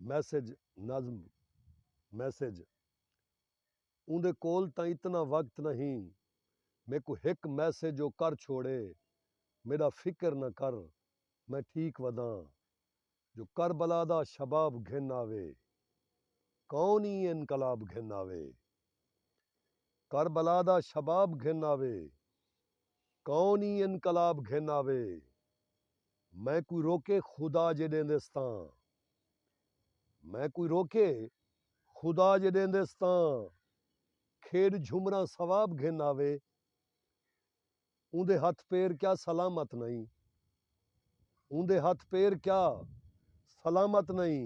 Message, نظم، Message، اوندے کول تاں اتنا وقت نہ ہی میکوں ہک میسج او کر چھوڑے میڈا فکر نہ کر میں ٹھیک وداں جو کربلا دا شباب گھن آوے کون ای انقلاب گھن آوے کربلا دا شباب گھن آوے۔ کون ایں انقلاب گھن آوے۔ میں کوئی روکے خدا جے ݙیندس تاں۔ میں کوئی روکے خدا جے ݙیندس تاں۔ کھیݙ جھمراں ثواب گھن آوے۔ اوندے ہتھ پیر کیا سلامت نئیں۔ اوندے ہتھ پیر کیا سلامت نئیں۔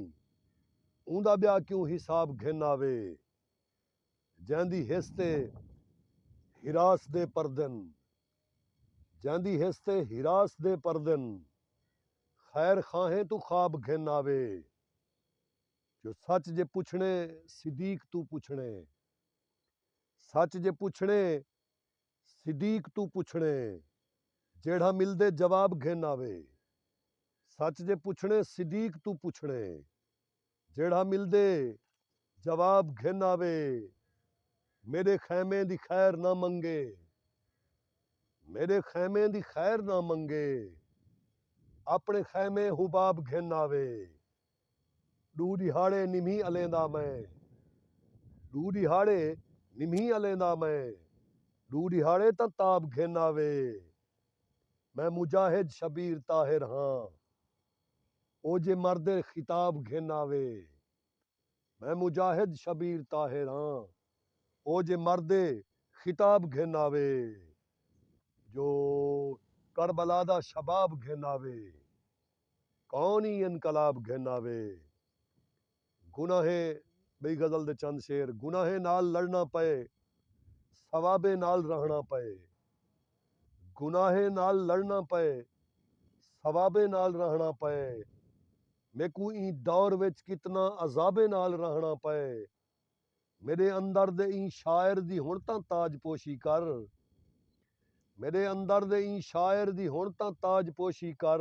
اوندا ٻیا کیوں حساب گھن آوے۔ جیندی ہس تے ہراس دے پردن۔ جیندی ہس تے ہراس دے پردن۔ خیر خواہیں توں خواب گھن آوے۔ جو سچ جے پچھݨے صدیق توں پچھݨے۔ سچ جے پچھݨے صدیق توں پچھݨے۔ جیڑھا ملدے جواب گھن آوے۔ سچ جے پچھݨے صدیق توں پچھݨے۔ جیڑھا ملدے جواب گھن آوے۔ میݙے خیمے دی خیر نہ منگے۔ میݙے خیمے دی خیر نہ منگے۔ آپݨے خیمے حباب گھن آوے۔ ݙو ݙیہاڑے نمہی الیندا میں۔ ݙو ݙیہاڑے نمہی الیندا میں۔ ݙو ݙیہاڑے تاں تاب گھن آوے۔ میں مجاہد شبیر طاہر ہاں۔ او جے مرد اے خطاب گھن آوے۔ میں مجاہد شبیر طاہر آں۔ او جے مرد اے خطاب گھن آوے۔ جو کربلا دا شباب گھن آوے۔ کون ای انقلاب گھن آوے۔ گناہیں، ٻئی غزل دے چند شعر، گناہیں نال لڑݨا پئے، ثوابیں نال رہݨا پئے۔ گناہیں نال لڑݨا پئے، ثوابیں نال رہݨا پئے۔ میکوں ایں دور وچ کتنا عذابیں نال رہݨا پئے۔ میݙے اندر دے ایں شاعر دی ہݨ تاں تاج پوشی کر۔ میݙے اندر دے ایں شاعر دی ہݨ تاں تاج پوشی کر۔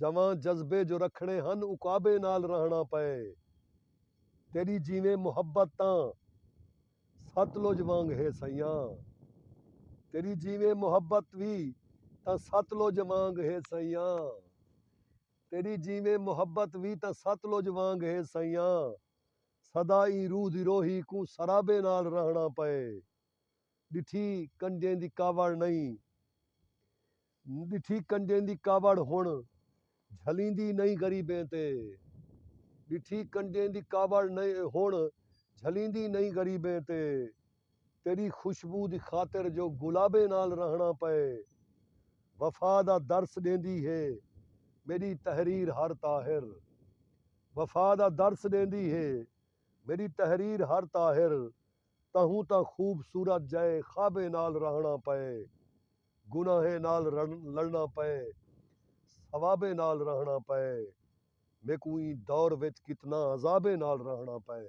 جواں جذبے جو رکھݨے ہن عقابے نال رہݨا پئے تیݙی جیویں محبت تاں ستلج وانگ ہے سئیاں تیݙی جیویں محبت وی تاں ستلج وانگ ہے سئیاں تیݙی جیویں محبت وی تاں ستلج وانگ ہے سئیاں سدا ایں روح دی روہی کوں سرابے نال رہݨا پئے۔ ݙٹھی کنجیں دی کاوڑ نئیں ݙٹھی کنجیں دی کاوڑ ہݨ جھلیندی نئیں غریبیں تے ݙٹھی کنجیں دی کاوڑ نئیں ہݨ جھلیندی نئیں غریبیں تے تیݙی خوشبو دی خاطر جو گلابیں نال رہݨا پئے وفا دا درس ݙیندی ہے میݙی تحریر ہر طاہر وفا دا درس ݙیندی ہے میݙی تحریر ہر طاہر تہوں تاں خوبصورت جئے خوابیں نال رہݨا پئے گناہیں نال لڑݨا پئے ثوابیں نال رہݨا پئے میکوں ایں دور وچ کتنا عذابیں نال رہݨا پئے۔